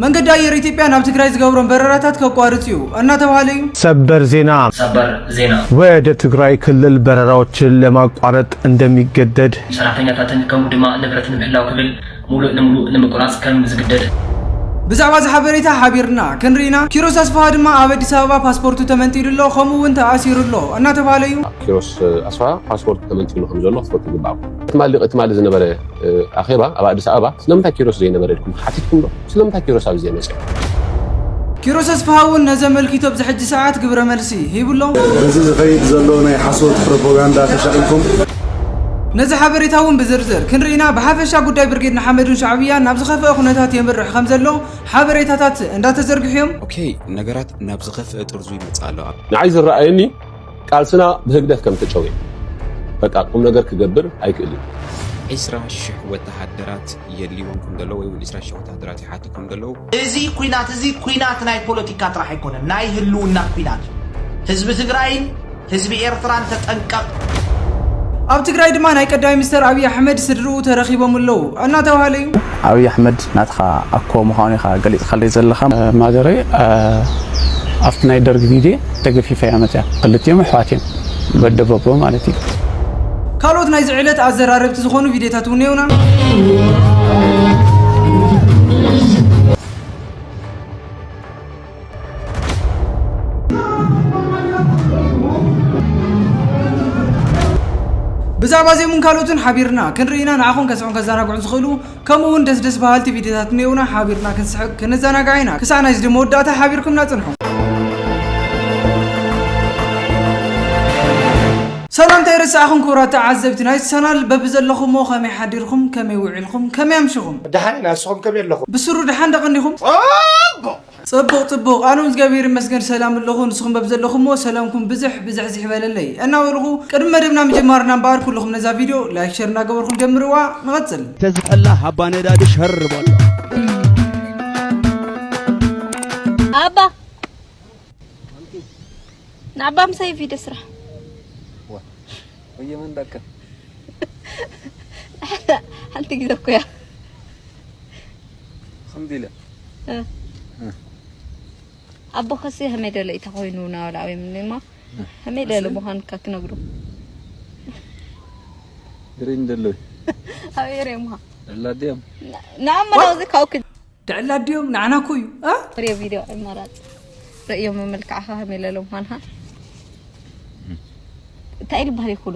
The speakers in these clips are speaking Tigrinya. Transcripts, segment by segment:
መንገዲ ኣየር ኢትዮጵያ ናብ ትግራይ ዝገብሮም በረራታት ከቋርፅ እዩ እናተብሃለ እዩ። ሰበር ዜና! ሰበር ዜና! ወደ ትግራይ ክልል በረራዎችን ለማቋረጥ እንደሚገደድ። ሰራሕተኛታትን ከምኡ ድማ ንብረት ንምህላው ክብል ሙሉእ ንሙሉእ ንምቁራፅ ከም ዝግደድ። ብዛዕባ እዚ ሓበሬታ ሓቢርና ክንርኢ ኢና። ኪሮስ ኣስፍሃ ድማ ኣብ ኣዲስ ኣበባ ፓስፖርቱ ተመንጢሉ ኣሎ ከምኡ እውን ተኣሲሩ ኣሎ እናተብሃለ እዩ። ኪሮስ ኣስፍሃ ፓስፖርቱ ተመንጢሉ ከም ዘሎ ክትፈልጡ ይግበኣኩም። ትማሊ ትማሊ ዝነበረ ኣኼባ ኣብ ኣዲስ ኣበባ ስለምንታይ ኪሮስ ዘይነበረ ኢልኩም ተሓቲትኩም ዶ? ስለምንታይ ኪሮስ ኣብዚ ዘይመጸ? ኪሮስ ኣስፍሃውን ነዚ ኣመልኪቱ ኣብዚ ሕጂ ሰዓት ግብረ መልሲ ሂብሎ። በዚ ዝኸይድ ዘሎ ናይ ሓሶት ፕሮፓጋንዳ ተሻቒልኩም ነዚ ሓበሬታ እውን ብዝርዝር ክንርኢና ብሓፈሻ ጉዳይ ብርጌድ ንሓመዱን ሻዕብያን ናብ ዝኸፍአ ኩነታት የምርሕ ከም ዘሎ ሓበሬታታት እንዳተዘርግሑ እዮም። ኦኬ ነገራት ናብ ዝኸፍአ ጥርዙ ይመጽእ ኣሎ ኣብ። ንዓይ ዝረኣየኒ ቃልስና ብህግደፍ ከም ተጨውየ በቃ ቁም ነገር ክገብር ኣይክእል እዩ። ዒስራ ሽሕ ወተሃደራት የድልይዎም ከም ዘለዉ ወይ እውን ዒስራ ሽሕ ወተሃደራት ይሓቱ ከም ዘለዉ እዚ ኩናት እዚ ኩናት ናይ ፖለቲካ ጥራሕ ኣይኮነን፣ ናይ ህልውና ኩናት እዩ። ህዝቢ ትግራይን ህዝቢ ኤርትራን ተጠንቀቕ! ኣብ ትግራይ ድማ ናይ ቀዳይ ምስተር ኣብይ ኣሕመድ ስድርኡ ተረኺቦም ኣለዉ ኣናተብሃለ ዩ። ኣብይ ኣሕመድ ናትኻ ኣኮ ምዃኑ ኢኻ ገሊጽካለይ ዘለኻ። ማዘረይ ኣብቲ ናይ ደርግ ግዜ ተገፊፋ እያ መጺኣ። ክልቲኦም ኣሕዋት እዮም፣ በደበቦ ማለት እዩ። ካልኦት ናይዚ ዕለት ኣዘራረብቲ ዝኾኑ ቪድዮታት እውን እኔውና። ብዛዕባ እዚኦምን ካልኦትን ሓቢርና ክንርኢ ኢና፣ ንዓኹም ከስሕቑን ከዘናግዑን ዝኽእሉ ከምኡ ውን ደስ ደስ በሃልቲ ቪድዮታት እኒኦውና ሓቢርና ክንስሕቅ ክንዘናጋዕ ኢና ክሳዕ ናይዚ መወዳእታ ሓቢርኩምና ፅንሑ። ሰላም ተይረሳዕኹም ክቡራት ተዓዘብቲ ናይዚ ቻናል በብዘለኹምዎ ከመይ ሓዲርኹም ከመይ ውዒልኹም ከመይ ኣምሽኹም ደሓን ኢና ንስኹም ከመይ ኣለኹም ብስሩ ደሓን ዶ ቀኒኹም? ጽቡቅ ጽቡቅ ኣነዉን እዝጋብሄር ይመስገን ሰላም ኣለኹ ንስኹም በብዘለኹምዎ ሰላምኩም ብዝሕ ብዝሕዝሕ ይበለለይ እናበልኹ ቅድሚ መደብና ምጅማርና እምበኣር ኩልኹም ነዛ ቪድዮ ላይክ ሸር እናገበርኹም ጀምርዋ ንቐጽል ተዝሕላ ሃባ ነዳዲ ሸር በሎ። ኣባ ንኣባ ምሳይ ቪድዮ ስራሕ ወየ መን ዳካ ሓንቲ ግዜ እኮ እያ ከምዚ ኢለ ኣቦኸሲ ሀመይ ደለ እዩ ተኾይኑ ናበላ ወይ ምንማ ሀመይ ደለ ምዃንካ ክነግሩ ግሪን ደለ ኣብ ኤርየ ምዃ ዕላዲኦም ንኣመና እዚ ካብክ ድዕላዲኦም ንዓና እኮ እዩ ሪዮ ቪድዮ ዕመራፅ ርእዮ መመልክዕኻ ሀመይ ለለ ምዃንካ እንታይ ኢሉ ባህል ይኹሉ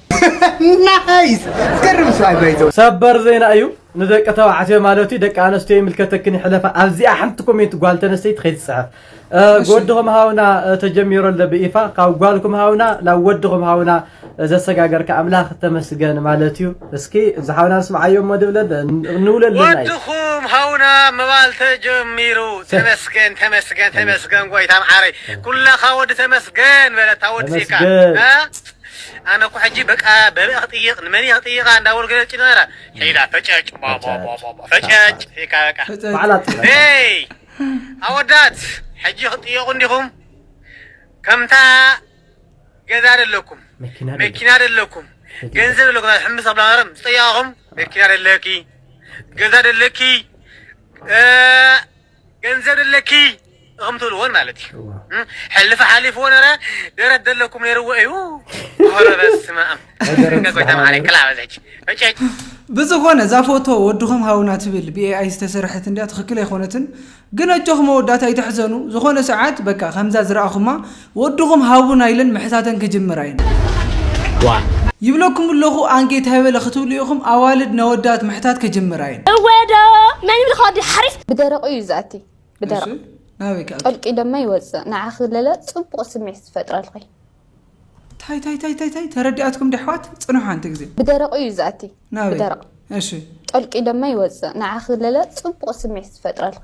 ናይስ ዝገርም ስራይ ባይዘ ሰበር ዜና እዩ ንደቂ ተባዕትዮ ማለት እዩ ደቂ ኣነስትዮ ይምልከተክን ይሕለፋ ኣብዚኣ ሓንቲ ኮሜንት ጓል ተነስተይቲ ከይትፅሕፍ ጎድኹም ሃውና ተጀሚሮ ኣሎ ብኢፋ ካብ ጓልኩም ሃውና ናብ ወድኹም ሃውና ዘሰጋገርካ ኣምላኽ ተመስገን ማለት እዩ እስኪ እዚ ሓውና ንስምዓዮ እሞ ድብለ ንውለልና ወድኹም ሃውና ምባል ተጀሚሩ ተመስገን ተመስገን ተመስገን ጎይታ መዓረይ ኩላኻ ወዲ ተመስገን በለታ ወዲ ዜካ ኣነ እኮ ሕጂ በቃ በበይ ክጥይቅ ንመን እየ ክጥይቃ እንዳበሉ ገለ ጭንቅ ነራ ሒዳ ፈጨጭ ቦቦቦቦ ፈጨጭ ኢልካ በቃ ፈጨጭ ባዕላ ትብላ ደይ ኣወዳት ሕጂ ክትጥየቁ እንዲኹም ከምታ ገዛ ደለኩም መኪና ደለ መኪና ደለኩም ገንዘብ ደለኩም ናይ ሕምስ ኣብላ ነረም ዝጠየቃኹም መኪና ደለኪ ገዛ ደለኪ እ፣ ገንዘብ ኣለኪ እኹም ትብልዎን ማለት እዩ ሕልፊ ሓሊፍዎ ነረ ደረት ዘለኩም ነይርዎ እዩ ረበስማም ብዝኾነ እዛ ፎቶ ወድኹም ሃውና ትብል ብኤኣይ ዝተሰርሐት እንዲያ ትኽክል ኣይኮነትን ግን ኣጆኹም መወዳእታ ኣይተሕዘኑ ዝኾነ ሰዓት በቃ ከምዛ ዝረኣኹማ ወድኹም ሃቡና ኢለን ምሕታተን ክጅምራ እየን። ይብለኩም ኣለኹ ኣንጌ ታይ በለ ክትብሉ ኢኹም ኣዋልድ ነወዳት ምሕታት ክጅምራ እየን። እወ ዶ መን ይብልካ ወዲ ሓሪፍ። ብደረቁ እዩ ዝኣቲ እሺ ብደረቅ ናበይ ክኣቱ ጠልቂ ደማ ይወፅእ ንዓኺ ለለ ፅቡቅ ስምዒት ዝፈጥረልኺ ታይ ታይ ታይ ታይ ታይ ተረዲኣትኩም ዶ ኣሕዋት ፅንሑ ሓንቲ ግዜ ብደረቁ እዩ ዝኣቲ ናበይ ብደረቅ እሺ ጠልቂ ደማ ይወፅእ ንዓኺ ለለ ፅቡቅ ስምዒት ዝፈጥረልኺ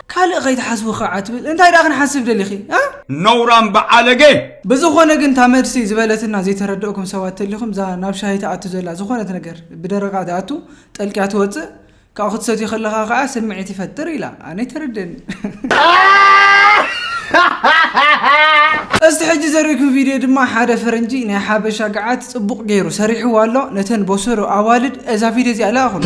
ካልእ ከይትሓስቢ ክዓ ትብል እንታይ ድኣ ክንሓስብ ደሊኺ እ። ነውራም ብዓለገ። ብዝኾነ ግን እታ መልሲ ዝበለትና ዘይተረደእኩም ሰባት ተሊኹም እዛ ናብ ሻሂ ትኣቱ ዘላ ዝኾነት ነገር ብደረቓ ትኣቱ ጠልቅያ ትወጽእ ካብኡ ክትሰትዮ ከለኻ ከኣ ስምዒት ይፈጥር ኢላ ኣነ ኣይተረድእን። እስቲ ሕጂ ዘርእኩም ቪድዮ ድማ ሓደ ፈረንጂ ናይ ሓበሻ ገዓት ጽቡቕ ገይሩ ሰሪሕዎ ኣሎ ነተን ቦሰሩ ኣዋልድ እዛ ቪድዮ እዚኣ ለኣኹን።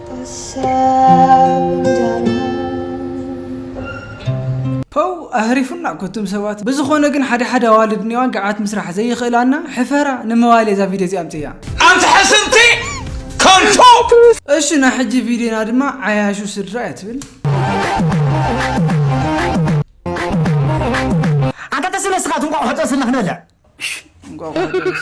ፐው ኣህሪፉና እኮ እቶም ሰባት ብዝኾነ ግን ሓደ ሓደ ኣዋልድ እኒዋን ገዓት ምስራሕ ዘይኽእላና ሕፈራ ንምባልየ እዛ ቪድዮ እዚኣ ኣምፅያ ኣንቲ ሕስምቲ ከንቱ እሺ ናይ ሕጂ ቪድዮና ድማ ዓያሹ ስድራ እያ ትብል ኣንታ ተስለ ስኻ ትንቋቑ ሕጠስልና ክንበልዕ እንቋቑሖ ደረሰ።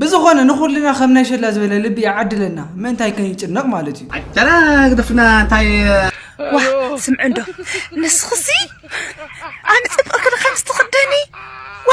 ብዝኾነ ንኹልና ከም ናይ ሸላ ዝበለ ልቢ ይዓድለና ምእንታይ ከይጭነቕ ማለት እዩ ጨና ግደፍና እንታይ ዋ ስምዕ እንዶ ንስኽሲ ኣነ ፅብቕ ክልካ ምስ ትኽደኒ ዋ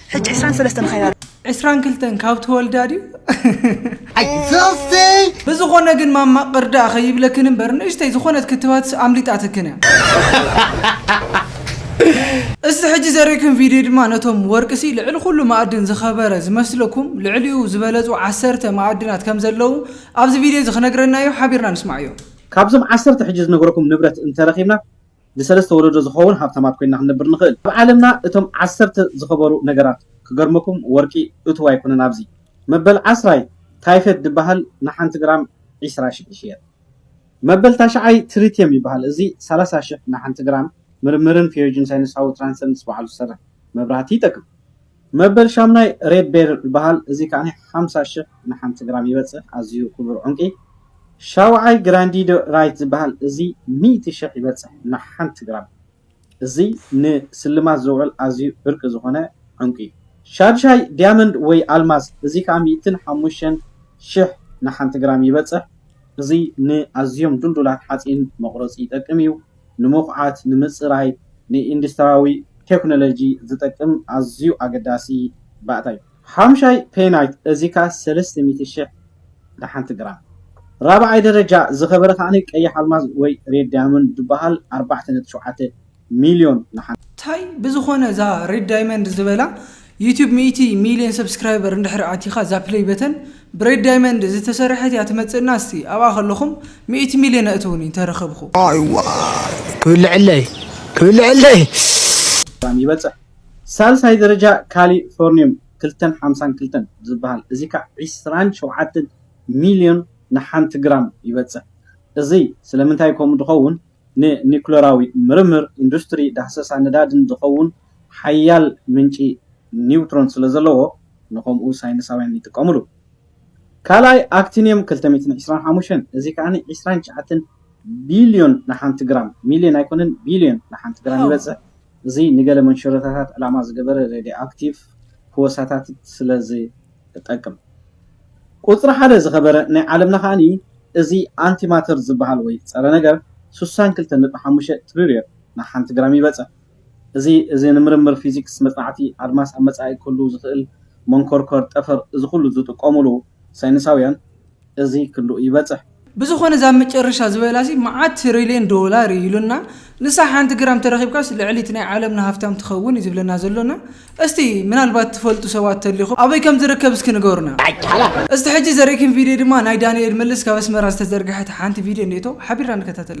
ሕጂ ዕስራን ሰለስተን ኸያ ዕስራን ክልተን ካብ ተወልዳ ድዩ ብዝኾነ ግን ማማ ቅርዳእ ከይብለክን እምበር ንእሽተይ ዝኾነት ክትባት ኣምሊጣትክን እያ እስቲ ሕጂ ዘርእክን ቪድዮ ድማ ነቶም ወርቅሲ ልዕሊ ኩሉ ማእድን ዝኸበረ ዝመስለኩም ልዕሊኡ ዝበለጹ ዓሰርተ ማእድናት ከም ዘለዉ ኣብዚ ቪድዮ እዚ ክነግረና እዩ ሓቢርና ንስማዕ እዩ ካብዞም ዓሰርተ ሕጂ ዝነገረኩም ንብረት እንተረኺብና ንሰለስተ ወለዶ ዝኸውን ሃብታማት ኮይንና ክንነብር ንኽእል። ኣብ ዓለምና እቶም ዓሰርተ ዝኸበሩ ነገራት ክገርመኩም ወርቂ እቱው ኣይኮነን ኣብዚ መበል ዓስራይ ታይፈድ ድበሃል ንሓንቲ ግራም ዕስራ ሽሕ ይሽየጥ መበል ታሽዓይ ትሪትየም ይበሃል እዚ ሰላሳ ሽሕ ንሓንቲ ግራም ምርምርን ፌዮጅን ሳይንሳዊ ትራንሰንስ ባዕሉ ዝሰርሕ መብራህቲ ይጠቅም መበል ሻምናይ ሬድ ቤርል ይበሃል እዚ ከኣ ሓምሳ ሽሕ ንሓንቲ ግራም ይበጽሕ ኣዝዩ ክቡር ዑንቂ። ሻውዓይ ግራንዲዶ ራይት ዝበሃል እዚ ሚእቲ ሽሕ ይበጽሕ ንሓንቲ ግራም እዚ ንስልማት ዝውዕል ኣዝዩ ብርቂ ዝኾነ ዑንቂ። ሻድሻይ ዲያመንድ ወይ ኣልማዝ እዚ ከኣ ሚእትን ሓሙሽተን ሽሕ ንሓንቲ ግራም ይበጽሕ እዚ ንኣዝዮም ዱልዱላት ሓጺን መቑረጺ ይጠቅም እዩ። ንመኹዓት፣ ንምጽራይ፣ ንኢንዱስትራዊ ቴክኖሎጂ ዝጠቅም ኣዝዩ ኣገዳሲ ባእታ እዩ። ሓምሻይ ፔናይት እዚ ከኣ ሰለስተ ሚእቲ ሽሕ ንሓንቲ ግራም። ራብዓይ ደረጃ ዝኸበረ ከኣ ቀይሕ ኣልማዝ ወይ ሬድ ዳይመንድ ዝበሃል ኣርባዕተ ነጥቢ ሸውዓተ ሚልዮን ንሓንቲ። ታይ ብዝኾነ እዛ ሬድ ዳይመንድ ዝበላ ዩቱብ ሚእቲ ሚልዮን ሰብስክራይበር እንድሕር ኣቲካ እዛ ፕለይ በተን ብሬድ ዳይመንድ ዝተሰረሐት እያ ትመጽእና እስቲ ኣብኣ ከለኩም ሚእቲ ሚልዮን ኣእትውኒ እንተረከብኩ። ዋይ ዋይ ክብልዐለይ ክብልዐለይ። ግራም ይበጽሕ። ሳልሳይ ደረጃ ካሊፎርኒዩም ክልተን ሓምሳን ክልተን ዝብሃል እዚ ክኣ ዕስራን ሸውዓተን ሚልዮን ንሓንቲ ግራም ይበጽሕ። እዚ ስለምንታይ ከምኡ ድኸውን? ንኒዩክለራዊ ምርምር፣ ኢንዱስትሪ፣ ዳህሰሳ ነዳዲን ዝኸውን ሓያል ምንጪ ኒውትሮን ስለዘለዎ ንኸምኡ ሳይንሳውያን ይጥቀምሉ። ካልኣይ ኣክቲንየም ክልተ ሚእትን ዕስራን ሓሙሽተን እዚ ከኣ ዕስራን ትሽዓተን ቢልዮን ንሓንቲ ግራም፣ ሚልዮን ኣይኮነን ቢልዮን፣ ንሓንቲ ግራም ይበጽሕ። እዚ ንገለ መንሸሮታታት ዕላማ ዝገበረ ሬድዮኣክቲቭ ፍወሳታትት ስለዝ። እጠቅም። ቁጽሪ ሓደ ዝኸበረ ናይ ዓለምና ከኣ እዚ ኣንቲ ማተር ዝበሃል ወይ ጸረ ነገር ስሳን ክልተ ነጥቢ ሓሙሽተ ትሪርዮን ናብ ሓንቲ ግራም ይበጽሕ። እዚ እዚ ንምርምር ፊዚክስ መጽናዕቲ ኣድማስ ኣብ መጻኢ ክህሉ ዝኽእል መንኮርኮር ጠፈር እዚ ኩሉ ዝጥቀሙሉ ሳይንሳውያን እዚ ክሉ ይበፅሕ። ብዝኾነ እዛ መጨረሻ ዝበላሲ መዓት ትሪልየን ዶላር እዩ ኢሉና ንሳ ሓንቲ ግራም ተረኺብካስ ልዕሊ እቲ ናይ ዓለምና ሃፍታም ትኸውን እዩ ዝብለና ዘሎና እስቲ ምናልባት ትፈልጡ ሰባት ተሊኹም ኣበይ ከም ዝርከብ እስኪ ንገሩና እስቲ ሕጂ ዘርእክን ቪድዮ ድማ ናይ ዳኒኤል መለስ ካብ ኣስመራ ዝተዘርግሐት ሓንቲ ቪድዮ እኔቶ ሓቢርና ንከታተላ።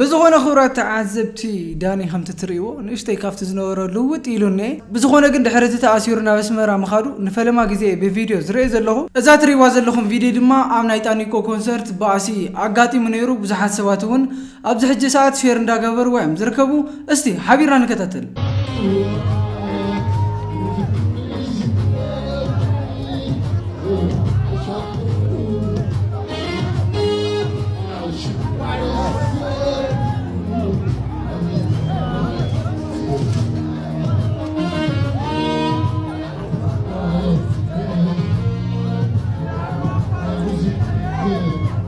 ብዝኾነ ክብራት ተዓዘብቲ ዳኒ ከምቲ ትርእይዎ ንእሽተይ ካብቲ ዝነበሮ ልውጥ ኢሉ እኔ ብዝኾነ ግን ድሕሪ እቲ ተኣሲሩ ናብ ኣስመራ ምኻዱ ንፈለማ ግዜ ብቪድዮ ዝርእየ ዘለኹ እዛ ትርእይዋ ዘለኹም ቪድዮ ድማ ኣብ ናይ ጣኒቆ ኮንሰርት ባእሲ ኣጋጢሙ ነይሩ ብዙሓት ሰባት እውን ኣብዚ ሕጂ ሰዓት ሼር እንዳገበርዋ እዮም ዝርከቡ እስቲ ሓቢርና ንከታተል።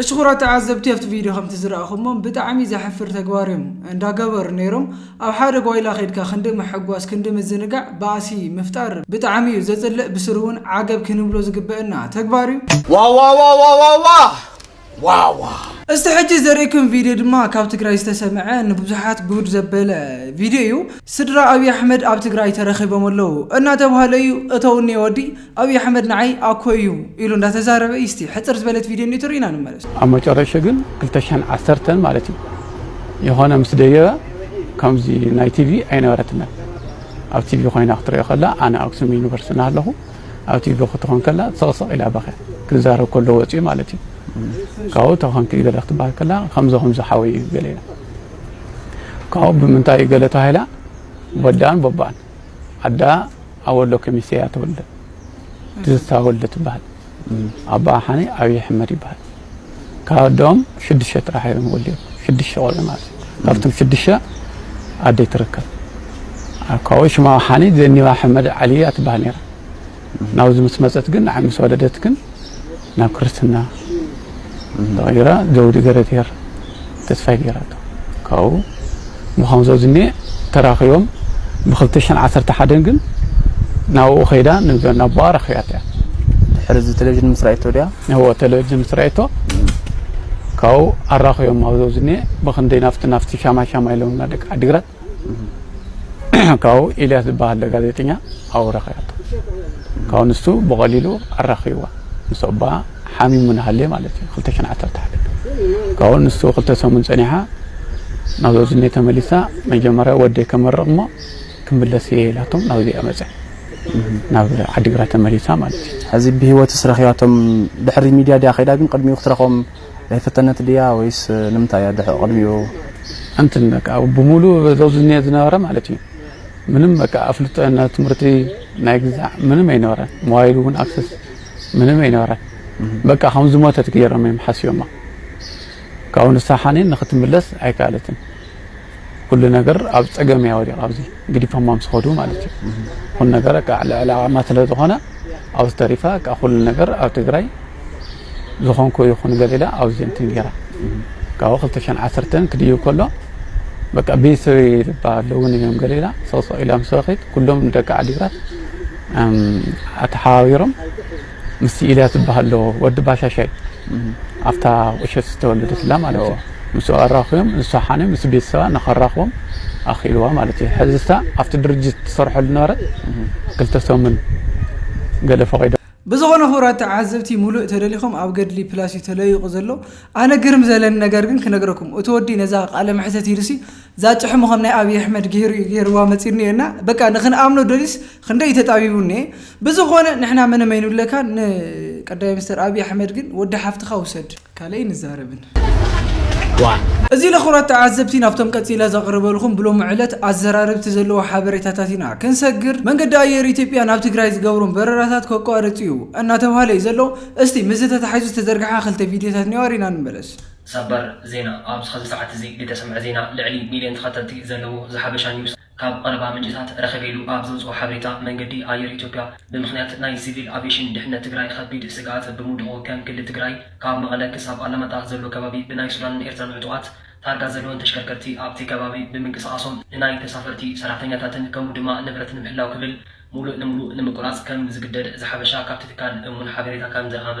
እሺ ኩራት ተዓዘብቲ ኣብቲ ቪድዮ ከምቲ ዝረኣኹሞም ብጣዕሚ ዘሕፍር ተግባር እዮም እንዳገበሩ ነይሮም ኣብ ሓደ ጓይላ ከድካ ክንዲ ምሕጓስ ክንዲ ምዝንጋዕ ባእሲ ምፍጣር ብጣዕሚ እዩ ዘፅልእ ብስሩ እውን ዓገብ ክንብሎ ዝግበእና ተግባር እዩ ዋዋዋዋዋዋ ዋዋ። እስቲ ሕጂ ዘርእክም ቪድዮ ድማ ካብ ትግራይ ዝተሰምዐ ንብዙሓት ጉድ ዘበለ ቪድዮ እዩ። ስድራ ኣብይ ኣሕመድ ኣብ ትግራይ ተረኺቦም ኣለው እናተብሃለ እዩ እተውኒ ወዲ ኣብይ ኣሕመድ ንዓይ ኣኮይ እዩ ኢሉ እንዳተዛረበ እዩ። እስቲ ሕፅር ዝበለት ቪድዮ እኒኦ ትርኢና ንመለስ። ኣብ መጨረሸ ግን ክልተ ሽሕን ዓሰርተን ማለት እዩ የኾነ ምስ ደየበ ከምዚ ናይ ቲቪ ኣይነበረትናን ኣብ ቲቪ ኮይና ክትሪኦ ከላ ኣነ ኣክሱም ዩኒቨርስቲ ናሃለኹ ኣብ ቲቪ ክትኾን ከላ ሰቕሰቕ ኢላ በኸያ ክዛረብ ከሎ ወጺኡ ማለት እዩ ካብኡ ተኾንኪ ገለ ክትበሃል ከላ ከምዞ ከምዞ ሓወይ እዩ ገለ ኢላ ካብኡ ብምንታይ እዩ ገለ ተባሂላ ወዳን ቦባን ኣዳ ኣወሎ ከሚሴ እያ ተወልደ ትዝታ ወልደ ትበሃል ኣባ ሓኒ ኣብዪ ሕመድ ይበሃል ካብ ኣዶኦም ሽዱሽተ ጥራሕ እዮም ወሊዶም ሽዱሽተ ቆልዑ ማለት እዩ ካብቶም ሽዱሽተ ኣደይ ትርከብ ካብኡ ሽማ ወሓኒት ዘኒባ ሕመድ ዓሊ እያ ትበሃል ነይራ ናብዚ ምስ መፀት ግን ንዓይ ምስ ወለደት ግን ናብ ክርስትና ተቐይራ ዘውዲ ገረትሄር ተስፋይ ገይራቶ ካብኡ ብኸምዞ ዝኔ ተራኺቦም ብኽልተ ሽሕን ዓሰርተ ሓደን ግን ናብኡ ከይዳ ናቦኣ ረኺባቶ እያ ድሕሪ እዚ ቴሌቪዥን ምስ ራእቶ ድያ እዎ ቴሌቪዥን ምስ ራእቶ ካብኡ ኣራኺቦም ኣብዞ ዝኔ ብኽንደይ ናፍቲ ናፍቲ ሻማ ሻማ ኢሎምና ደቂ ዓዲግራት ካብኡ ኢልያስ ዝበሃል ጋዜጠኛ ኣብኡ ረኺባቶ ካብኡ ንሱ ብቐሊሉ ኣራኺብዋ ምስ ኣቦኣ ሓሚሙ ንሃልየ ማለት እዩ ክልተ ሸን ዓሰርተ ሓደ ካብኡ ንሱ ክልተ ሰሙን ፀኒሓ ናብ ዘዝኔ ተመሊሳ መጀመርያ ወደይ ከመርቕ እሞ ክምለስ እየ ኢላቶም ናብዚ እያ መፀ ናብ ዓዲግራት ተመሊሳ ማለት እዩ ሕዚ ብሂወትስ ረኺባቶም ድሕሪ ሚድያ ድያ ከይዳ ግን ቅድሚኡ ክትረኽቦም ኣይፈተነት ድያ ወይስ ንምንታይ እያ ድሕኦ ቅድሚኡ ኣንትን በቃ ብሙሉ ዞዝኔ ዝነበረ ማለት እዩ ምንም በቃ ኣፍልጦ ናይ ትምህርቲ ናይ ግዛዕ ምንም ኣይነበረ ሞባይል እውን ኣክሰስ ምንም ኣይነበረ በቃ ከም ዝሞተት ገይሮም እዮም ሓስዮማ ካብኡ ንሳ ሓኔን ንክትምለስ ኣይከኣለትን ኩሉ ነገር ኣብ ፀገም እያ ወዲቕ ኣብዚ ግዲፎማ ምስ ኸዱ ማለት እዩ ኩሉ ነገር በቃ ልዕሊ ዓቕማ ስለ ዝኾነ ኣብዚ ተሪፋ በቃ ኩሉ ነገር ኣብ ትግራይ ዝኾንኩ ይኹን ገለ ኢላ ኣውጅ እንትን ገይራ ካብኡ ክልተ ሽሕን ዓሰርተን ክድይብ ከሎ በቃ ቤተሰበይ ዝበሃል እውን እዮም ገለ ኢላ ሰውሰው ኢላ ምስ ረኺት ኩሎም ደቂ ዓዲግራት ኣተሓባቢሮም ምስ ኢልያ ዝበሃል ዶ ወዲ ባሻሻይ ኣብታ ቁሸት ዝተወለደትላ ማለት እዩ ምስ ኣራኽቦም ንሱ ሓነ ምስ ቤተሰባ ንኸራኽቦም ኣኽኢልዋ ማለት እዩ ሕዝስታ ኣብቲ ድርጅት ትሰርሐሉ ነበረት ክልተ ሰሙን ገለ ፈቒዶ ብዝኮነ ክብራት ተዓዘብቲ ሙሉእ ተደሊኩም ኣብ ገድሊ ፕላስ እዩ ተለዩቁ ዘሎ ኣነ ግርም ዘለኒ ነገር ግን ክነግረኩም እቲ ወዲ ነዛ ቃለ መሕተት ኢሉሲ እዛ ጭሕሙ ከም ናይ ኣብይ ኣሕመድ ገይሩ እዩ ገይርዋ መጺኒ እየ እና በቃ ንክንኣምኖ ደልዩስ ክንደይ እዩ ተጣቢቡኒ እየ ብዝኮነ ንሕና ምንም ኣይንብለካን ን ቀዳማይ ሚኒስተር ኣብይ ኣሕመድ ግን ወዲ ሓፍትካ ውሰድ ካልእ ኣይንዛረብን። ዋእ! እዚ ንክብራት ተዓዘብቲ ናብቶም ቀጺለ ዘቕርበልኩም ብሎሚ ዕለት ኣዘራረብቲ ዘለዎ ሓበሬታታት ኢና ክንሰግር። መንገዲ ኣየር ኢትዮጵያ ናብ ትግራይ ዝገብሮም በረራታት ከቋርጽ እዩ እናተብሃለ እዩ ዘሎ። እስቲ ምስዚ ተታሒዙ ዝተዘርግሓ ክልተ ቪድዮታት እንየዋ ሪእና ንመለስ። ሰበር ዜና ኣብዚ ሕዚ ሰዓት እዚ ልተሰምዐ ዜና ልዕሊ ሚልዮን ተኸተልቲ ዘለዎ ዘሓበሻ ኒውስ፣ ካብ ቐረባ ምንጭታት ረኺበኢሉ ኣብ ዘውጽኦ ሓበሬታ፣ መንገዲ ኣየር ኢትዮጵያ ብምኽንያት ናይ ሲቪል ኣቬሽን ድሕነት ትግራይ ኸቢድ ስግኣት ብምውድቑ ከም ክሊ ትግራይ ካብ መቐለ ክሳብ ኣላማጣ ዘሎ ከባቢ ብናይ ሱዳንን ኤርትራን ዕጡቓት ታርጋ ዘለወን ተሽከርከርቲ ኣብቲ ከባቢ ብምንቅስቓሶም ንናይ ተሳፈርቲ ሰራሕተኛታትን ከምኡ ድማ ንብረት ንምሕላው ክብል ሙሉእ ንሙሉእ ንምቁራፅ ከም ዝግደድ ዝሓበሻ ካብቲ ትካል እሙን ሓበሬታ ከም ዝረኸበ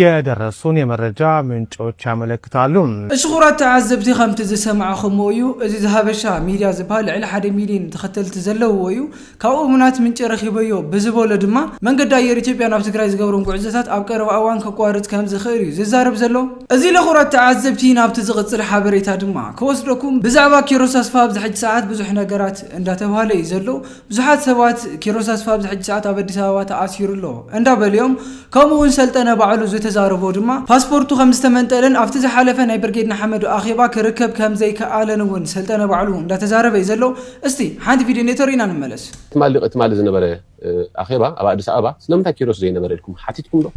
የደረሱን የመረጃ ምንጮች ያመለክታሉ። እሺ ክቡራት ተዓዘብቲ ከምቲ ዝሰማዕኹምዎ እዩ እዚ ዘሀበሻ ሚድያ ዝበሃል ልዕሊ ሓደ ሚልየን ተኸተልቲ ዘለውዎ እዩ ካብ እሙናት ምንጪ ረኺበዮ ብዝበሎ ድማ መንገዲ ኣየር ኢትዮጵያ ናብ ትግራይ ዝገብሮም ጉዕዞታት ኣብ ቀረባ እዋን ከቋርፅ ከምዝኽእል እዩ ዝዛረብ ዘሎ እዚ ለክቡራት ተዓዘብቲ ናብቲ ዝቕፅል ሓበሬታ ድማ ክወስደኩም ብዛዕባ ኪሮስ ኣስፍሃ ኣብዚ ሕጂ ሰዓት ብዙሕ ነገራት እንዳተብሃለ እዩ ዘሎ ብዙሓት ሰባት ኪሮስ ኣስፋ ኣብዚ ሕጂ ሰዓት ኣብ ኣዲስ ኣበባ ተኣሲሩ ኣሎ እንዳበሉ'ዮም። ከምኡ'ውን ሰልጠነ ባዕሉ ዝተዛረቦ ድማ ፓስፖርቱ ከምዝተመንጠለን ኣብቲ ዝሓለፈ ናይ ብርጌድ ንሓመዱ ኣኼባ ክርከብ ከምዘይከኣለን'ውን ሰልጠነ ባዕሉ እንዳተዛረበ'ዩ ዘሎ። እስቲ ሓንቲ ቪድዮ ነቶ ርኢና ንመለስ። ትማሊ ትማሊ ዝነበረ ኣኼባ ኣብ ኣዲስ ኣበባ ስለምንታይ ኪሮስ ዘይነበረ ኢልኩም ሓቲትኩም ዶ?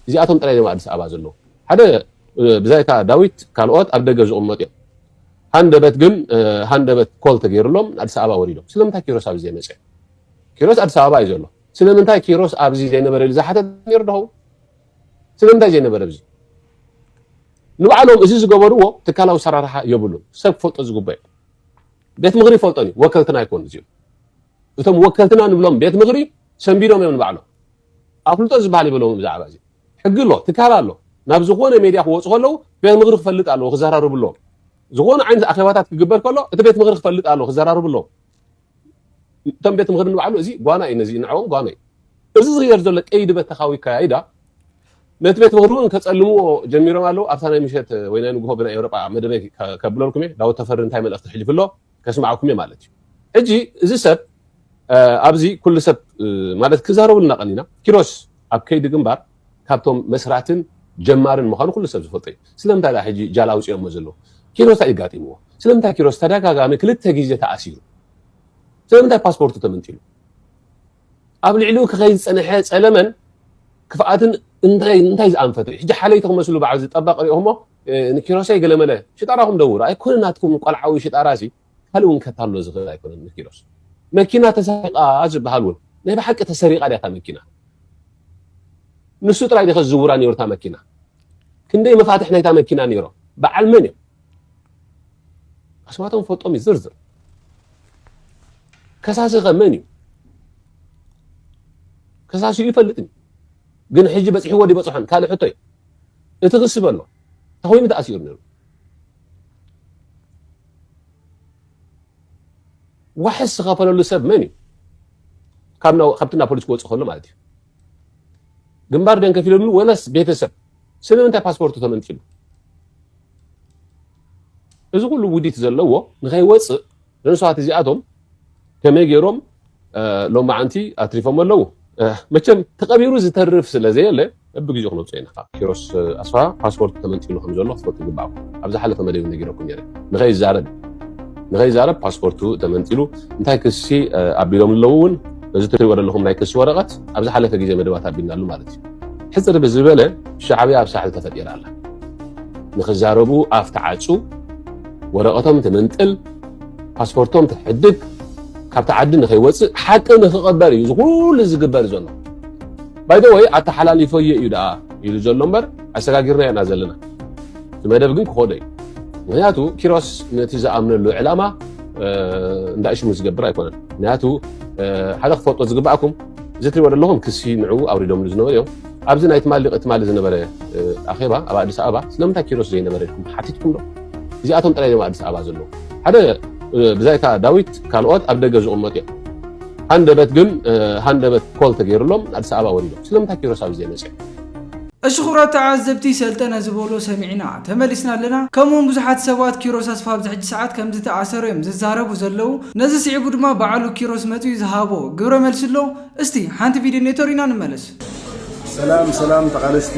እዚኣቶም ጥራይ ድዮም ኣብ ኣዲስ ኣበባ ዘለዉ? ሓደ ብዛይካ ዳዊት ካልኦት ኣብ ደገ ዝቕመጡ'ዮም። ሃንደበት ግን ሃንደበት ኮል ተገይርሎም ኣዲስ ኣበባ ወሪዶም ስለምንታይ ኪሮስ ኣብዚ ዘይመፀ ኪሮስ ኣዲስ ኣበባ እዩ ዘሎ ስለምንታይ ኪሮስ ኣብዚ ዘይነበረ ኢሉ ዝሓተት ነይሩ ዶ ስለምንታይ ዘይነበረ እዚ ንባዕሎም እዚ ዝገበርዎ ትካላዊ ሰራርሓ የብሉን ሰብ ክፈልጦ ዝግበእ ቤት ምኽሪ ይፈልጦን እዩ ወከልትና ይኮኑ እዚኦም እቶም ወከልትና ንብሎም ቤት ምኽሪ ሰንቢዶም እዮም ንባዕሎም ኣፍልጦ ዝበሃል ይብሎም ብዛዕባ እዚ ሕጊ ኣሎ ትካል ኣሎ ናብ ዝኾነ ሜድያ ክወፁ ከለዉ ቤት ምኽሪ ክፈልጥ ኣለዎ ክዘራርብሎም ዝኾነ ዓይነት ኣኼባታት ክግበር ከሎ እቲ ቤት ምኽሪ ክፈልጥ ኣለዎ ክዘራርብሎም እቶም ቤት ምኽሪ ንባዕሉ እዚ ጓና እዩ ነዚ ንዐኦም ጓና እዩ እዚ ዝግበር ዘሎ ቀይዲ በተኻዊ ኣከያይዳ ነቲ ቤት ምኽሪ እውን ከፀልምዎ ጀሚሮም ኣለዉ ኣብታ ናይ ምሸት ወይ ናይ ንግሆ ብናይ ኤውሮጳ መደበይ ከብለልኩም እየ ዳዊት ተፈሪ እንታይ መልእኽቲ ሕልፍ ኣሎ ከስምዓኩም እየ ማለት እዩ ሕጂ እዚ ሰብ ኣብዚ ኩሉ ሰብ ማለት ክዛረቡልና ቀኒና ኪሮስ ኣብ ከይዲ ግንባር ካብቶም መስራትን ጀማርን ምዃኑ ኩሉ ሰብ ዝፈልጦ እዩ ስለምንታይ ደኣ ሕጂ ጃል ኣውፂኦሞ ዘለዉ ኪሮስ እንታይ ጋጢምዎ ስለምንታይ ኪሮስ ተደጋጋሚ ክልተ ግዜ ተኣሲሩ ስለምንታይ ፓስፖርቱ ተመንጢሉ ኣብ ልዕሊኡ ክኸይድ ዝጸንሐ ጸለመን ክፍኣትን እንታይ እንታይ ዝኣንፈቱ ሕጂ ሓለይቲ ክመስሉ በዓል ዝጠበቕ ሪኦሞ ንኪሮሰይ ገለመለ ሽጣራኹም ደውሩ ኣይኮነ ናትኩም ቆልዓዊ ሽጣራሲ ካልእ እውን ከታሎ ዝኽእል ኣይኮነን ንኪሮስ መኪና ተሰሪቓ ዝበሃል እውን ናይ ብሓቂ ተሰሪቓ ድያ እታ መኪና ንሱ ጥራይ ድኸ ዝዝውራ ነይሩ እታ መኪና ክንደይ መፋትሕ ናይታ መኪና ነይሮ በዓል መን እዮም ኣስማቶም ፈልጦም እዩ ዝርዝር ከሳሲ ከ መን እዩ ከሳሲኡ ይፈልጥኒ ግን ሕጂ በፂሕዎ ዲበፅሖን ካልእ ሕቶ እዩ እቲ ክሲ በሎ እንታይ ኮይኑ ተኣሲሩ ነይሩ ዋሕስ ዝኸፈለሉ ሰብ መን እዩ ካብቲ ናብ ፖሊስ ክወፅእ ከሎ ማለት እዩ ግንባር ደን ከፊለሉ ወለስ ቤተሰብ ስለምንታይ ፓስፖርቱ ተመንጢሉ እዚ ኩሉ ውዲት ዘለዎ ንከይወጽእ ንንሱሃት እዚኣቶም ከመይ ገይሮም ሎማዓንቲ ኣትሪፎሞ ኣለዉ መቸም ተቀቢሩ ዝተርፍ ስለ ዘየለ በብግዜኡ ክነውጽኦ ኢና። ኪሮስ ኣስፍሃ ፓስፖርት ተመንጢሉ ከም ዘሎ ክትፈልጡ ይግብኣኩም። ኣብ ዝሓለፈ መደብ እውን ነጊረኩም ነይረ። ንኸይዛረብ ንኸይዛረብ ፓስፖርቱ ተመንጢሉ እንታይ ክሲ ኣቢሎምሉ ኣለዉ እውን እዚ ትሪእዎ ዘለኹም ናይ ክሲ ወረቐት ኣብ ዝሓለፈ ግዜ መደባት ኣቢልናሉ ማለት እዩ። ሕጽር ብዝበለ ሻዕብያ ኣብ ሳሕል ተፈጢራ ኣላ። ንክዛረቡ ኣፍ ትዓጹ፣ ወረቐቶም ትምንጥል፣ ፓስፖርቶም ትሕድግ፣ ካብቲ ዓዲ ንከይወጽእ ሓቂ ንክቐበር እዩ ዝኩሉ ዝግበር ዘሎ። ባይደወይ ኣተሓላሊፈዮ እዩ ደኣ ኢሉ ዘሎ እምበር ኣሰጋጊርናዮ ኢና ዘለና። እቲ መደብ ግን ክኸዶ እዩ። ምክንያቱ ኪሮስ ነቲ ዝኣምነሉ ዕላማ እንዳእሽሙ ዝገብር ኣይኮነን። ምክንያቱ ሓደ ክፈልጦ ዝግባኣኩም እዚ እትሪእዎ ዘለኹም ክሲ ንዕኡ ኣውሪዶምሉ ዝነበሩ እዮም። ኣብዚ ናይ ትማሊ ቅትማሊ ዝነበረ ኣኼባ ኣብ ኣዲስ ኣበባ ስለምንታይ ኪሮስ ዘይነበረ ኢልኩም ተሓቲትኩም ዶ? እዚኣቶም ጥራይ እዮም ኣዲስ ኣበባ ዘለዉ። ሓደ ብዛይካ ዳዊት ካልኦት ኣብ ደገ ዝቕመጡ እዮም። ሃንደበት ግን ሃንደበት ኮል ተገይርሎም ኣዲስ ኣበባ ወሪዶም። ስለምንታይ ኪሮስ ኣብዚ ዘይመፀ? እሺ ክብራት ተዓዘብቲ ሰልጠነ ዝበሎ ሰሚዕና ተመሊስና ኣለና ከምኡ ውን ብዙሓት ሰባት ኪሮስ ኣስፋሃ ኣብዚ ሕጂ ሰዓት ከምዝተኣሰሩ እዮም ዝዛረቡ ዘለዉ ነዚ ስዒቡ ድማ በዓሉ ኪሮስ መጺኡ ዝሃቦ ግብረ መልሲ ኣሎ እስቲ ሓንቲ ቪድዮ ኔቶ ሪና ንመለስ። ሰላም ሰላም ተቓለስቲ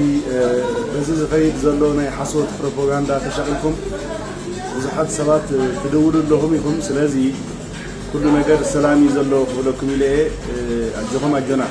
በዚ ዝኸይድ ዘሎ ናይ ሓሶት ፕሮፓጋንዳ ተሻቒልኩም ብዙሓት ሰባት ትድውሉ ኣለኹም ኢኹም ስለዚ ኩሉ ነገር ሰላም እዩ ዘሎ ክብለኩም ኢለ እየ ኣጆኹም ኣጆና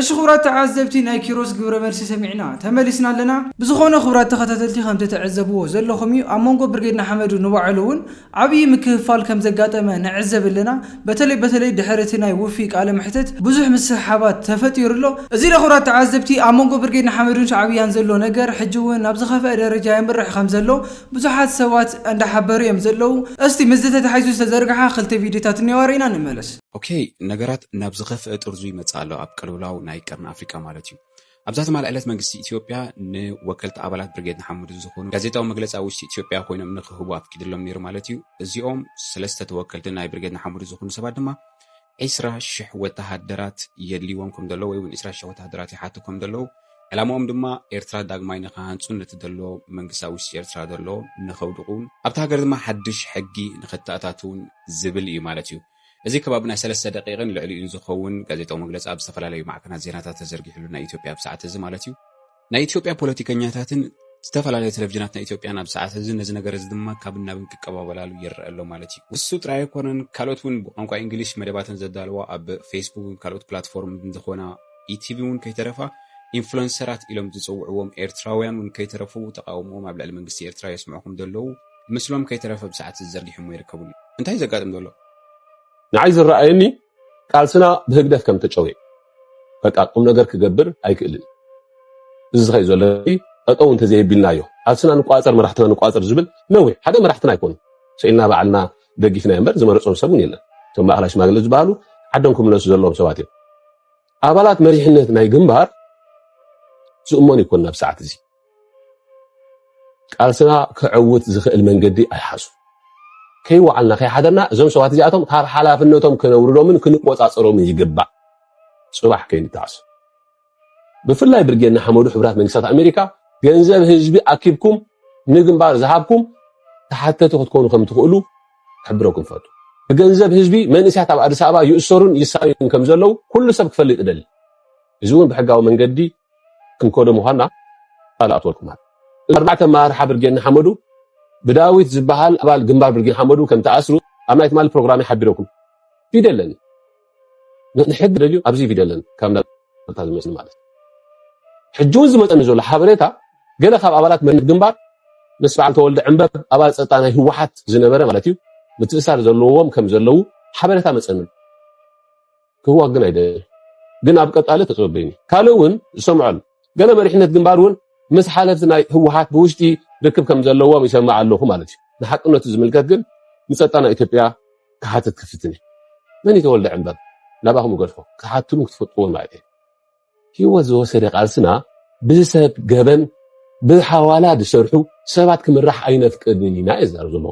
እሺ ክብራት ተዓዘብቲ ናይ ኪሮስ ግብረ መልሲ ሰሚዕና ተመሊስና ኣለና። ብዝኾነ ክብራት ተኸታተልቲ ከም ትትዕዘብዎ ዘለኹም እዩ ኣብ መንጎ ብርጌድ ንሓመዱ ንባዕሉ ውን ዓብይ ምክፍፋል ከም ዘጋጠመ ንዕዘብ ኣለና በተለይ በተለይ ድሕሪ እቲ ናይ ውፊይ ቃለ መሕተት ብዙሕ ምስሕሓባት ተፈጢሩ ኣሎ እዚ ዶ ክብራት ተዓዘብቲ ኣብ መንጎ ብርጌድ ንሓመዱን ሻዕብያን ዘሎ ነገር ሕጂ ውን ናብ ዝኸፈኣ ደረጃ የምርሕ ከም ዘሎ ብዙሓት ሰባት እንዳ ሓበሩ እዮም ዘለዉ እስቲ ምስዚ ተታሒዙ ዝተዘርግሓ ክልተ ቪድዮታት እንየዋ ሪእና ንመለስ። ኦኬ ነገራት ናብ ዝኸፍኣ ጥርዙ ይመጽእ ኣሎ ኣብ ቅልውላው ናይ ቀርኒ ኣፍሪቃ ማለት እዩ። ኣብዛ ትማል ዕለት መንግስቲ ኢትዮጵያ ንወከልቲ ኣባላት ብርጌድ ንሓመዱ ዝኾኑ ጋዜጣዊ መግለጺ ኣብ ውሽጢ ኢትዮጵያ ኮይኖም ንክህቡ ኣፍቂድሎም ነይሩ ማለት እዩ። እዚኦም ሰለስተ ተወከልቲ ናይ ብርጌድ ንሓመዱ ዝኾኑ ሰባት ድማ ዒስራ ሽሕ ወተሃደራት የድልይዎም ከም ዘለዉ ወይ እውን ዒስራ ሽሕ ወተሃደራት ይሓቱ ከም ዘለዉ ዕላማኦም ድማ ኤርትራ ዳግማይ ንክሃንጹን ነቲ ዘሎ መንግስቲ ኣብ ውሽጢ ኤርትራ ዘሎ ንከውድቑን ኣብቲ ሃገር ድማ ሓድሽ ሕጊ ንከተኣታትውን ዝብል እዩ ማለት እዩ። እዚ ከባቢ ናይ ሰለስተ ደቒቕን ልዕሊኡን ዝኸውን ጋዜጣዊ መግለጺ ኣብ ዝተፈላለዩ ማዕከናት ዜናታት ተዘርጊሕሉ ናይ ኢትዮጵያ ኣብ ሰዓት እዚ ማለት እዩ። ናይ ኢትዮጵያ ፖለቲከኛታትን ዝተፈላለያ ቴለቭዥናት ናይ ኢትዮጵያን ኣብ ሰዓት እዚ ነዚ ነገር እዚ ድማ ካብን ናብን ክቀባበላሉ ይረኣ ኣሎ ማለት እዩ። ንሱ ጥራይ ኣይኮነን፣ ካልኦት እውን ብቋንቋ ኢንግሊሽ መደባተን ዘዳልዋ ኣብ ፌስቡክን ካልኦት ፕላትፎርምን ዝኾና ኢቲቪ እውን ከይተረፋ ኢንፍሉንሰራት ኢሎም ዝጽውዕዎም ኤርትራውያን እውን ከይተረፉ ተቓውሞኦም ኣብ ልዕሊ መንግስቲ ኤርትራ የስምዑ ከም ዘለዉ ምስሎም ከይተረፈ ብሰዓት ዘርጊሖሞ ይርከቡ ኣለዉ። እንታይ እዩ ዘጋጥም ዘሎ? ንዓይ ዝረኣየኒ ቃልስና ብህግደፍ ከም ተጨውየ በቃ ቁም ነገር ክገብር ኣይክእልን እዚ ዝኸይ ዘሎ ጠጠው እንተዘየቢልናዮ ቃልስና ንቋፀር መራሕትና ንቋፀር ዝብል ነዊሕ ሓደ መራሕትና ኣይኮኑ ስኢልና ባዕልና ደጊፍና እምበር ዝመረፆም ሰብ እውን የለን እቶም ማእኸላይ ሽማግለ ዝበሃሉ ዓዶም ክምለሱ ዘለዎም ሰባት እዮም ኣባላት መሪሕነት ናይ ግንባር ዝእመኑ ይኮኑ ናብ ሰዓት እዚ ቃልስና ከዕውት ዝኽእል መንገዲ ኣይሓዙን። ከይወዓልና ከይሓደርና እዞም ሰባት እዚኣቶም ካብ ሓላፍነቶም ክነውርዶምን ክንቆጻጸሮምን ይግባእ ጽባሕ ከይንተዓሰ። ብፍላይ ብርጌድ ንሓመዱ ሕቡራት መንግስታት ኣሜሪካ ገንዘብ ህዝቢ ኣኪብኩም ንግንባር ዝሃብኩም ተሓተቲ ክትኮኑ ከም ትኽእሉ ክሕብረኩም ፈቱ። ብገንዘብ ህዝቢ መንእስያት ኣብ ኣዲስ ኣበባ ይእሰሩን ይሳዩን ከም ዘለዉ ኩሉ ሰብ ክፈልጥ እደሊ። እዚ እውን ብሕጋዊ መንገዲ ክንከዶ ምዃንና ቃል ኣእትወልኩም ኣሎ። እዞም ኣርባዕተ ኣመራርሓ ብርጌድ ንሓመዱ ብዳዊት ዝበሃል ኣባል ግንባር ብርጌድ ንሓመዱ ከም ተኣስሩ ኣብ ናይ ትማሊ ፕሮግራመይ ሓቢረኩም ቪድዮ ኣለኒ ንሕጊ ደልዩ ኣብዚ ቪድዮ ኣለኒ ካብ እንዳታ ዝመጽኒ ማለት ሕጂ እውን ዝመጸኒ ዘሎ ሓበሬታ ገለ ካብ ኣባላት መሪት ግንባር ምስ በዓል ተወልደ ዕንበብ ኣባል ጸጥታ ናይ ህወሓት ዝነበረ ማለት እዩ ምትእሳር ዘለዎም ከም ዘለዉ ሓበሬታ መጸኒ ክህቦ ግን ኣይደልን ግን ኣብ ቀጻሊ ተጸበዩኒ ካልእ እውን ዝሰምዖ ኣሎ ገለ መሪሕነት ግንባር እውን ምስ ሓለፍቲ ናይ ህወሓት ብውሽጢ ርክብ ከም ዘለዎም ይሰምዕ ኣለኹ ማለት እዩ ንሓቅነቱ ዝምልከት ግን ንጸጥታ ናይ ኢትዮጵያ ክሓትት ክፍትን እዩ መን ይተወልደ ዕምበር ናባኹም ይገድፎ ክሓትሉ ክትፈጥዎም ማለት እዩ ህይወት ዝወሰደ ቃልስና ብሰብ ገበን ብሓዋላ ዝሰርሑ ሰባት ክምራሕ ኣይነፍቅድን ኢና የዛርብ ዘሎ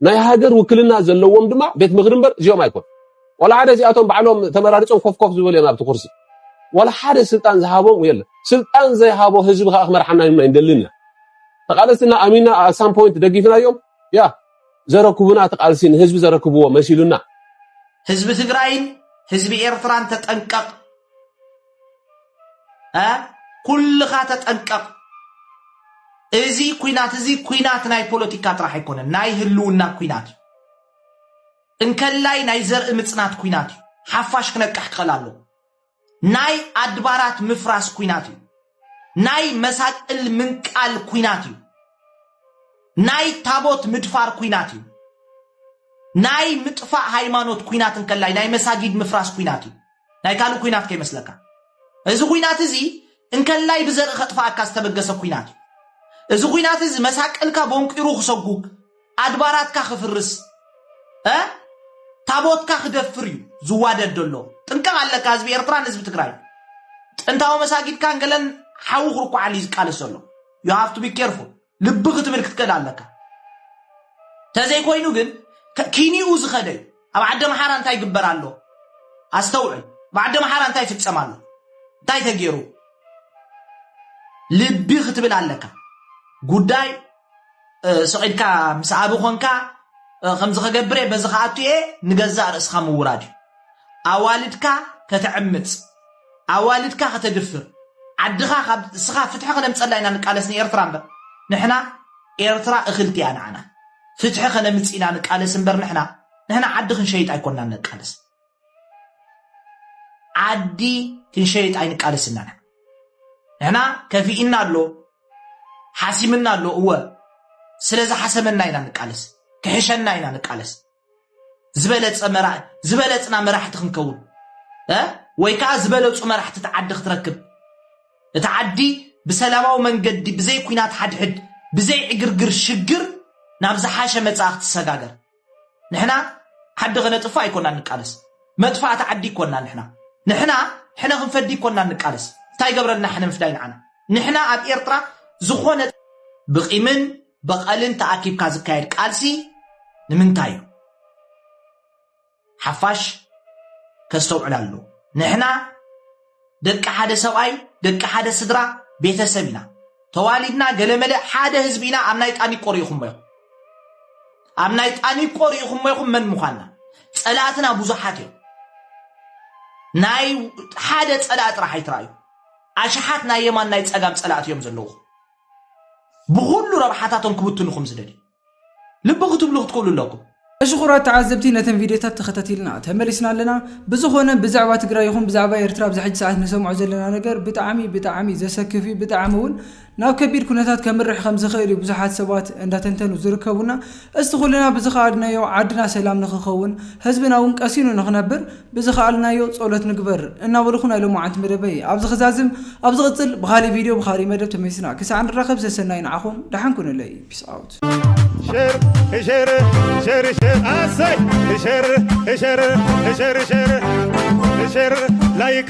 ናይ ሃገር ውክልና ዘለዎም ድማ ቤት ምኽሪ እምበር እዚኦም ኣይኮኑ ዋላ ሓደ እዚኣቶም ባዕሎም ተመራሪፆም ኮፍ ኮፍ ዝበሉ እዮም ኣብቲ ኩርሲ ዋላ ሓደ ስልጣን ዝሃቦም የለ ስልጣን ዘይሃቦ ህዝቢ ከዓ ክመርሓና ይምና ይንደልን ኢና ተቃለስትና ኣሚና ኣሳም ፖይንት ደጊፍናዮም ያ ዘረክቡና ተቃልሲ ንህዝቢ ዘረክብዎ መሲሉና ህዝቢ ትግራይን ህዝቢ ኤርትራን ተጠንቀቕ እ ኩልኻ ተጠንቀቕ እዚ ኩናት እዚ ኩናት ናይ ፖለቲካ ጥራሕ ኣይኮነን ናይ ህልውና ኩናት እዩ እንከላይ ናይ ዘርኢ ምፅናት ኩናት እዩ ሓፋሽ ክነቅሕ ክኸል ኣሎ ናይ ኣድባራት ምፍራስ ኩናት እዩ ናይ መሳቅል ምንቃል ኩናት እዩ ናይ ታቦት ምድፋር ኩናት እዩ ናይ ምጥፋእ ሃይማኖት ኩናት እንከላይ ናይ መሳጊድ ምፍራስ ኩናት እዩ ናይ ካልእ ኩናት ከይመስለካ እዚ ኩናት እዚ እንከላይ ብዘርኢ ከጥፋኣካ ዝተበገሰ ኩናት እዩ እዚ ኩናት እዚ መሳቅልካ ቦንቂሩ ክሰጉግ ኣድባራትካ ክፍርስ ታቦትካ ክደፍር እዩ ዝዋደድ ዘሎ ጥንቀቕ ኣለካ ህዝቢ ኤርትራን ህዝቢ ትግራይ ጥንታዊ መሳጊድካን ገለን ሓዊ ክርኩዓሉ እዩ ዝቃለስ ዘሎ ዩ ሃፍቱ ቢ ኬርፉል ልቢ ክትብል ክትክእል ኣለካ ተዘይኮይኑ ግን ኪኒኡ ዝኸደ እዩ ኣብ ዓዲ ኣምሓራ እንታይ ይግበር ኣሎ ኣስተውዕል ብዓዲ ኣምሓራ እንታይ ይፍፀም ኣሎ እንታይ ተገይሩ ልቢ ክትብል ኣለካ ጉዳይ ስዒድካ ምስ ኣቢ ኮንካ ከምዚ ከገብረ በዚ ከኣቱ እየ ንገዛእ ርእስኻ ምውራድ እዩ ኣዋልድካ ከተዕምፅ ኣዋልድካ ከተድፍር ዓድኻ ካብ እስኻ ፍትሒ ከነምጸላ ኢና ንቃለስ ንኤርትራ እምበር ንሕና ኤርትራ እኽልቲ እያ ንዓና ፍትሒ ከነምጽ ኢና ንቃለስ እምበር ንሕና ንሕና ዓዲ ክንሸይጥ ኣይኮናን ንቃለስ ዓዲ ክንሸይጥ ኣይንቃለስ እና ንሕና ከፊኢና ኣሎ ሓሲምና ኣሎ እወ ስለዚ ሓሰመና ኢና ንቃለስ ክሕሸና ኢና ንቃለስ ዝበለፀ መራ- ዝበለፅና መራሕቲ ክንከውን እ? ወይ ከዓ ዝበለፁ መራሕቲ እቲ ዓዲ ክትረክብ እቲ ዓዲ ብሰላማዊ መንገዲ ብዘይ ኩናት ሓድሕድ ብዘይ ዕግርግር ሽግር ናብ ዝሓሸ መፃኢ ክትሰጋገር ንሕና ዓዲ ከነጥፍእ ኣይኮናን ንቃለስ መጥፋእቲ ዓዲ ይኮና ንሕና ንሕና ሕነ ክንፈዲ ይኮና ንቃለስ እንታይ ገብረልና ሕነ ምፍዳይ ንዓና ንሕና ኣብ ኤርትራ ዝኾነ ብቂምን በቐልን ተኣኪብካ ዝካየድ ቃልሲ ንምንታይ እዩ? ሓፋሽ ከስተውዕል ኣለዎ። ንሕና ደቂ ሓደ ሰብኣይ፣ ደቂ ሓደ ስድራ ቤተሰብ ኢና። ተዋሊድና ገለመለ ሓደ ህዝቢ ኢና። ኣብ ናይ ጣኒቆ ርኢኹሞ ኢኹም። ኣብ ናይ ጣኒቆ ርኢኹሞ ኢኹም መን ምዃንና። ጸላእትና ብዙሓት እዮም። ናይ ሓደ ጸላእ ጥራሕ ኣይትረኣዩ። ኣሽሓት ናይ የማን ናይ ጸጋም ጸላእቲ እዮም ዘለዉ። ብኹሉ ረብሓታቶም ክብትኑ ከም ዝደልዩ ልቢ ክትብሉ ክትክእሉ ኣለኩም። እሺ ኩራት ተዓዘብቲ ነተን ቪድዮታት ተከታቲልና ተመሊስና ኣለና ብዝኮነ ብዛዕባ ትግራይ ይኩን ብዛዕባ ኤርትራ ኣብዚ ሕጂ ሰዓት ንሰምዖ ዘለና ነገር ብጣዕሚ ብጣዕሚ ዘሰክፍ እዩ ብጣዕሚ ውን ናብ ከቢድ ኩነታት ከምርሕ ከምዝክእል እዩ ብዙሓት ሰባት እንዳተንተኑ ዝርከቡና እስቲ ኩልና ብዝኸኣልናዮ ዓድና ሰላም ንኽኸውን፣ ህዝብና እውን ቀሲኑ ንኽነብር ብዝኸኣልናዮ ጸሎት ንግበር እናበልኹ ናይ ሎማዓንቲ መደበይ ኣብዚ ክዛዝም፣ ኣብ ዝቕጽል ብኻሊእ ቪድዮ ብኻሊእ መደብ ተመሊስና ክሳዕ ንራኸብ ሰሰናዩ ንዓኹም፣ ደሓን ኩኑለይ Peace out። ሸር ሸር ሸር ሸር ኣሰይ ሸር ሸር ሸር ሸር ሸር ላይክ